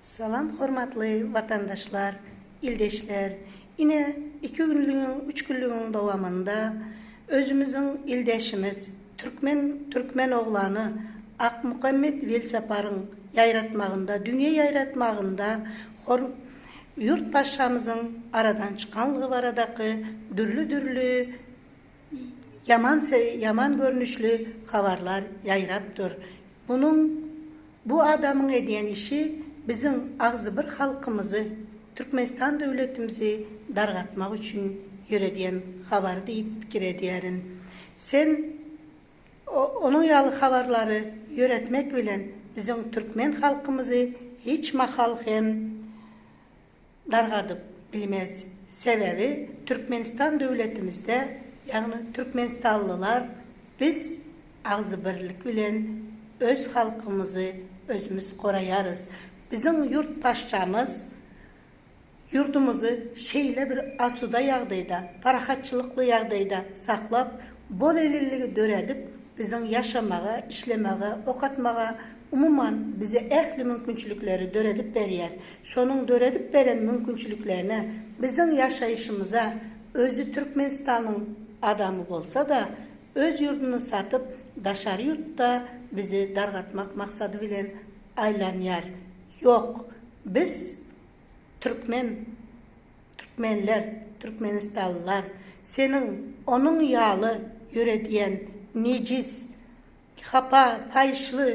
Salam hormatly watandaşlar, ildeşler! Ine iki günlügiň, üç günlügiň dowamynda özümiziň ildeşimiz, türkmen türkmen oglany Akmuhammet Welsaparyň ýaýratmagynda, dünýä ýaýratmagynda hor Ýurt Patyşamyzyň aradan çykanlygy baradaky dürli-dürli Ýaman se ýaman görnüşli habarlar ýaýrap dur. Munuň bu adamyň edýän işi biziň agzybir halkymyzy, Türkmenistan döwletimizi dargatmak üçin ýöredýän habary diýip pikir edýärin. Sen o onuň ýaly habarlary ýöretmek bilen biziň türkmen halkymyzy hiç mahal hem dargadyp bilmez. Sebäbi Türkmenistan döwletimizde, ýagny türkmenistanlylar biz agzybirlik bilen öz halkymyzy özümiz goraýarys. Biziň ýurt paşşamyz ýurdumyzy şeýle bir asuda ýagdaýda, parahatçylykly ýagdaýda saklap, bolelinligi döredip, biziň ýaşamaga, işlemege, okatmaga, umuman bize ähli mümkinçilikleri döredip berýär. Şonuň döredip beren mümkinçiliklerine, biziň ýaşaýşymyza özi Türkmenistanyň adamy bolsa-da, öz ýurduny satyp, daşary ýurtda bizi dargatmak maksady bilen aýlanýar. Ýok, biz, türkmen, türkmenler, türkmenistanlylar seniň onuň ýaly ýöredýän nejis, hapa, paýyşly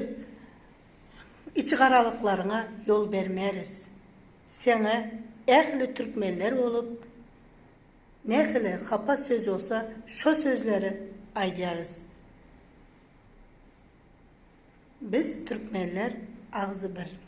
Içigaralyklaryňa ýol bermeris. Seňe ähli türkmenler bolup, nähili hapa söz bolsa şo sözleri aýdýarys. Biz türkmenler agzy bir.